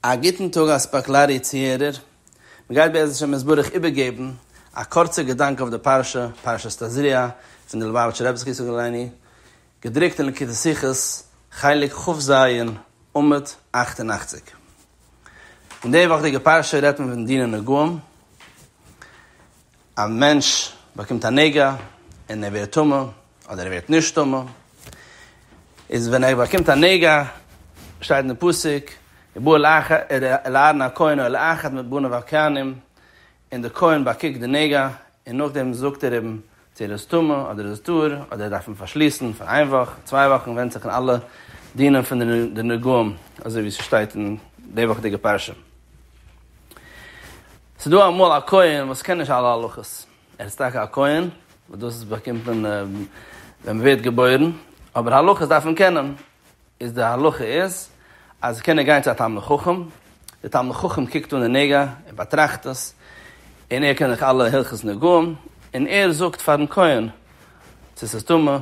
א גוטן טאג א ספאקלארי צוהערער, מען גייט בעזהש ה מסברח איבערגעבן א קורצע געדאנק אויף די פרשה, פרשת תזריע, פון די ליובאוויטשער רבי זצוקל הלייני, געדרוקט אין ליקוטי שיחות, חלק כ ז, עמוד אַכט און אַכציק. אין די וואכדיגע פרשה רעדט מען פון דיני נגעים, א מענטש באקומט א נגע און ער ווערט טמא, אדער ער ווערט נשתמע, איז ווען ער באקומט א נגע, שטייט אין די פסוק, ובא אל אהרן הכהן או אל אחד מבניו הכהנים, און די כהן באקוקט די נגע, און נאכדעם זאגט ער אים צו ער איז טמא אדער איז טהור, אדער ער דארף אים פארשליסן פאר איין וואך, צוויי וואכן, ווענדט זיך אין אלע דינים פון די נגעים, אזוי ווי ס'שטייט אין די וואכדיגע פרשה. ס'דא אמאל א כהן וואס קען נישט אלע הלכות. ער איז טאקע א כהן, וואס דאס באקומט מען ווען מען ווערט געבוירן, אבער הלכות דארף מען קענען, איז די הלכה איז אז קען ער גיין צו א תלמיד חכם, דער תלמיד חכם קוקט אן די נגע, ער באטראכט עס, און ער קען אויך אלע הלכות נגעים, און ער זאגט פארן כהן צו עס איז טמא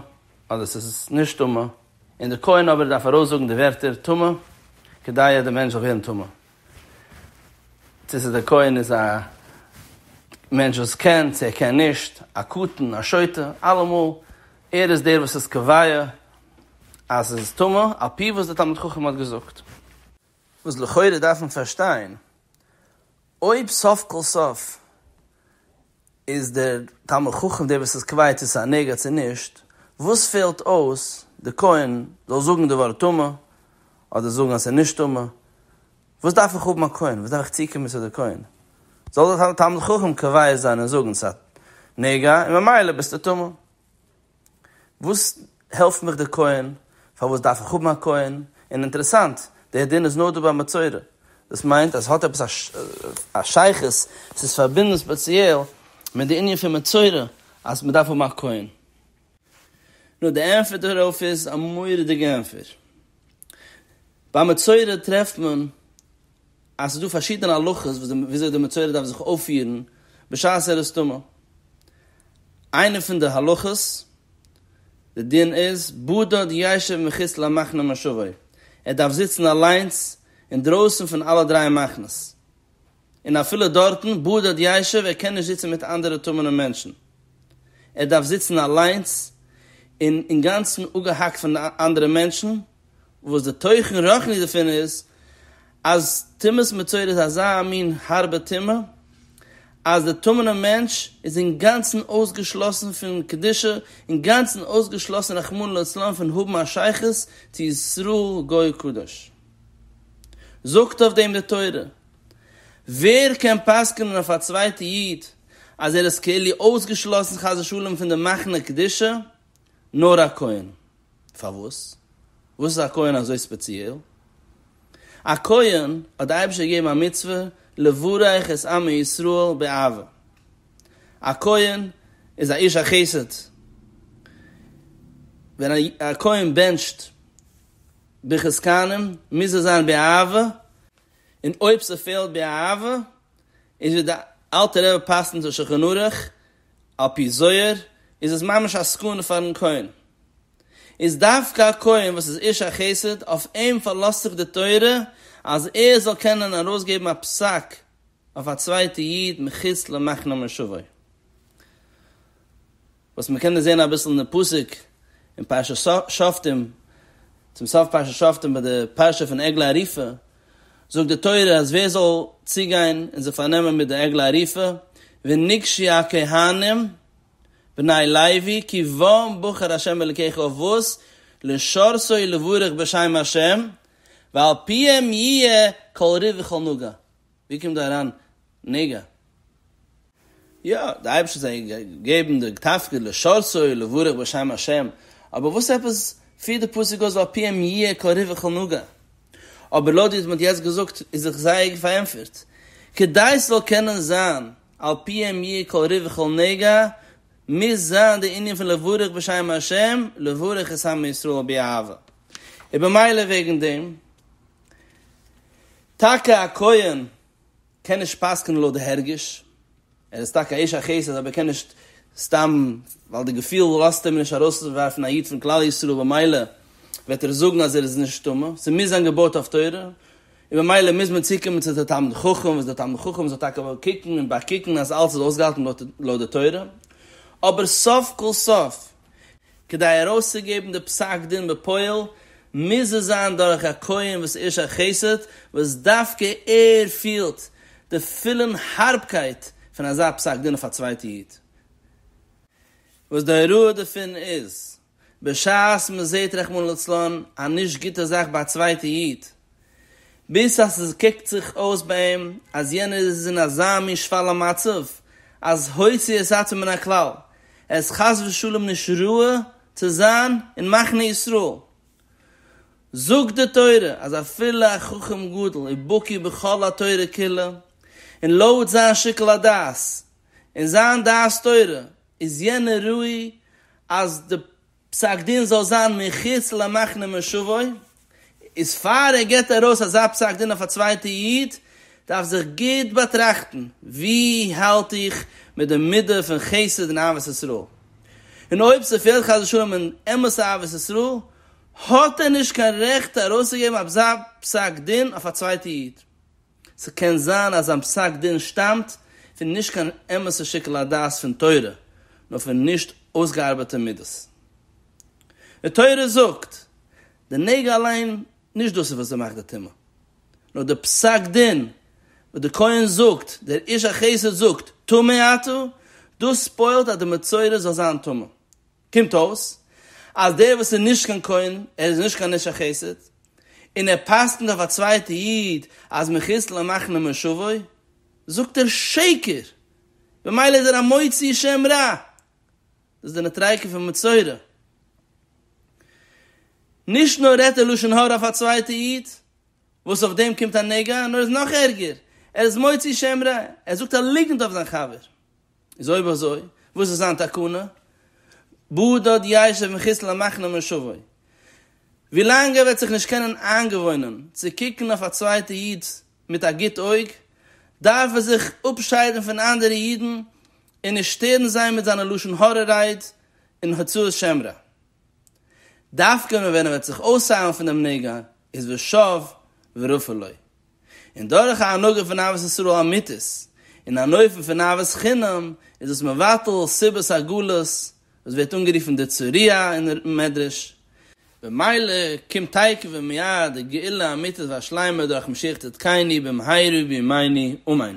אדער עס איז נישט טמא, און דער כהן אבער דארף ארויסזאגן די ווערטער טמא, כדי אז דער מענטש זאל ווערן טמא. צו ס'איז דער כהן איז א מענטש וואס קען צו ער קען נישט, א קטן, א שוטה, אלעמאל ער איז דער וואס איז קובע אז ס'איז טמא, על פי וואס דער תלמיד חכם האט געזאגט. וואס לכאורה דארף מען פארשטיין, אויב סוף כל סוף איז דער תלמיד חכם דער וואס איז קובע צו ס'איז א נגע צו נישט? וואס פעלט אויס דער כהן זאל זאגן די ווארט טמא אדער זאגן אז ס'איז נישט טמא? וואס דארף איך האבן א כהן? וואס דארף איך צוקומען צו דער כהן? זאל דער תלמיד חכם קובע זיין און זאגן ס'איז א נגע און ממילא ביסטו טמא. וואס העלפט מיך די כהן? פארוואס דארף איך האבן א כהן? און אינטערעסאנט, דער דין איז נאר דא ביי מצורע. דאס מיינט אז עס האט עפעס א שייכות, עס איז פארבינדן ספעציעל מיט די ענין פון מצורע אז מען דארף האבן א כהן. נו, די ענטפער דערויף איז א מורא'דיגע ענטפער. ביי מצורע טרעפט מען אז ס'איז דא פארשידענע הלכות וויאזוי די מצורע דארף זיך אויפפירן בשעת ער איז טמא. איינע פון די הלכות, די דין איז, בדד יישב מחוץ למחנה מושבו, ער דארף זיצן אליינס אינדרויסן פון אלע דריי מחנות. און אפילו דארטן, בדד יישב, ער קען נישט זיצן מיט אנדערע טמא'נע מענטשן. ער דארף זיצן אליינס און אינגאנצן אפגעהאקט פון די אנדערע מענטשן, וואס די תוכן רוחני דערפון איז, אז טומאת מצורע איז אזא מין הארבע טומאה, אז דער טמא'נער מענטש איז אינגאנצן אויסגעשלאסן פון קדושה, אינגאנצן אויסגעשלאסן רחמנא לצלן פון האבן א שייכות צו ישראל גוי קדוש. זאגט אויף דעם די תורה, ווער קען פסק'נען אויף א צווייטע איד אז ער איז כאילו אויסגעשלאסן חס ושלום פון די מחנה קדושה? נאר א כהן. פארוואס? וואס איז א כהן אזוי ספעציעל? א כהן האט די אייבערשטער געגעבן א מצוה לברך את עמי ישראל באהבה. א כהן איז א איש החסד. ווען א כהן בענטשט ברכת כהנים מוז עס זיין באהבה, און אויב ס'פעלט באהבה איז ווי די אלטע רבי פסק'נט אין שולחן ערוך, על פי זוהר איז עס ממש א סכנה פארן כהן. איז דווקא א כהן וואס איז איש החסד, אויף אים פארלאזט זיך די תורה אז ער זאל קענען ארויסגעבן א פסק אויף א צווייטע איד מחוץ למחנה מושבו. וואס מ'קען דאס זען אביסל אין די פסוק אין פרשת שופטים, צום סוף פרשת שופטים ביי די פרשה פון עגלה ערופה, וואו זאגט די תורה אז ווער זאל צוגיין און זיך פארנעמען מיט די עגלה ערופה, ונגשי הכהנים בני לוי כי בם בחר השם אלקיך אבות לשרשו לברך בשם השם ועל פיהם יהיה כל ריב וכל נוגה, ווי קומט דא אריין נוגה? יא, די אייבערשטער זאל געבן די תפקיד לשרצו לברך בשם השם, אבער וואס עפעס פירט די פסוק אויס ועל פיהם יהיה כל ריווח אל נוגע? אבער לויט ווי דו האט יעצט געזאגט איז זיך זייער גוט פארענטפערט, כדי ס'זאל קענען זיין על פיהם יהיה כל ריווח אל נוגע מוז זיין די ענין פון לברך בשם השם לברך את העם ישראל באהבה, און במילא וועגן דעם טאקע א כהן קען נישט פסק'נען לויט די הרגש, ער איז טאקע א איש החסד אבער ער קען נישט סתם ווייל די געפיל לאזט אים נישט ארויסווארפן א איד פון כלל ישראל במילא וועט ער זאגן אז ער איז נישט טמא, ס'מוז זיין געבויט אויף תורה, און במילא מוז מען צוקומען צו די תלמיד חכם וואס דער תלמיד חכם זאל טאקע קוקן און באקוקן אז אלס איז אויסגעהאלטן לויט די תורה, אבער סוף כל סוף כדי ארויסצוגעבן די פסק דין בפועל, מוז עס זיין דורך א כהן וואס איש החסד, וואס דווקא ער פילט די פולן הארבקייט פון אזא פסק דין אויף א צווייטע איד. וואס די הוראה דערפון איז, בשעת מען זעט רחמנא לצלן א נישט גוטע זאך ביי א צווייטע איד, ביז אז עס קוקט זיך אויס ביי אים אז יענער איז אין אזא מין שפלה מצב אז הוציא את עצמו מן הכלל, ער איז חס ושלום נישט ראוי צו זיין אין מחנה ישראל. זאגט די תורה אז אפילו א חכם גדול ובקי בכל התורה כולה, און לויט זיין שיקול הדעת און זיין דעת תורה איז יענער ראוי אז די פסק דין זאל זיין מחוץ למחנה מושבו, איז פאר ער גיבט ארויס אזא פסק דין אויף א צווייטע איד, דארף זיך גוט באטראכטן, ווי האלט איך מיט די מידה פון חסד און אהבת ישראל? און אויב ס'פעלט חס ושלום אין אמת'ע אהבת ישראל, האט ער נישט קיין רעכט ארויסצוגעבן אזא פסק דין אויף א צווייטע איד. ס'קען זיין אז זיין פסק דין שטאמט פון נישט קיין אמת'ע שיקול הדעת פון תורה, נאר פון נישט אויסגעארבעטע מידות. די תורה זאגט, די נגע אליין, נישט דאס איז וואס ס'מאכט די טומאה, נאר די פסק דין וואס די כהן זאגט, דער איש החסד זאגט, טמא אתה, דאס פועל'ט אז די מצורע זאל זיין טמא. קומט אויס אז דער וואס איז נישט קיין כהן, ער איז נישט קיין איש החסד, און ער פסק'נט אויף א צווייטע איד אז מחיסל און מאכן אים משוגע, זאגט ער שקר, במילא איז ער א מוציא שם רע. דאס איז די נטריי'קע פון מצורע. נישט נאר רעדט ער לשון הרע אויף א צווייטע איד, וואס אויף דעם קומט א נגע, נאר עס איז נאך ערגער, ער איז מוציא שם רע, ער זאגט א ליגנט אויף זיין חבר. איז אויב אזוי, וואס איז זיין תקנה? בו דוד יישב אין כסלו למחנה מושבו. ווילאנג ער וועט זיך נישט קענען איינגעוואוינען צו קוקן אויף א צווייטע איד מיט א גוט אויג, דארף ער זיך אפשיידן פון אנדערע אידן און נישט שטערן זיי מיט זיינע לשון הרע רייד און הוצאת שם רע. דווקא נאר ווען ער וועט זיך אויסאיילן פון דעם נגע איז ושב ורפא לו. און דורך א הנהגה פון אהבת ישראל אמיתית, און אן אופן פון אהבת חינם, איז דאס מבטל סיבות הגלות, וואס ווערט אנגערופן די צוריה אין מדרש, במילא קומט תיכף ומיד די גאולה אמיתית והשלימה דורך משיח צדקינו במהרה בימינו אמן.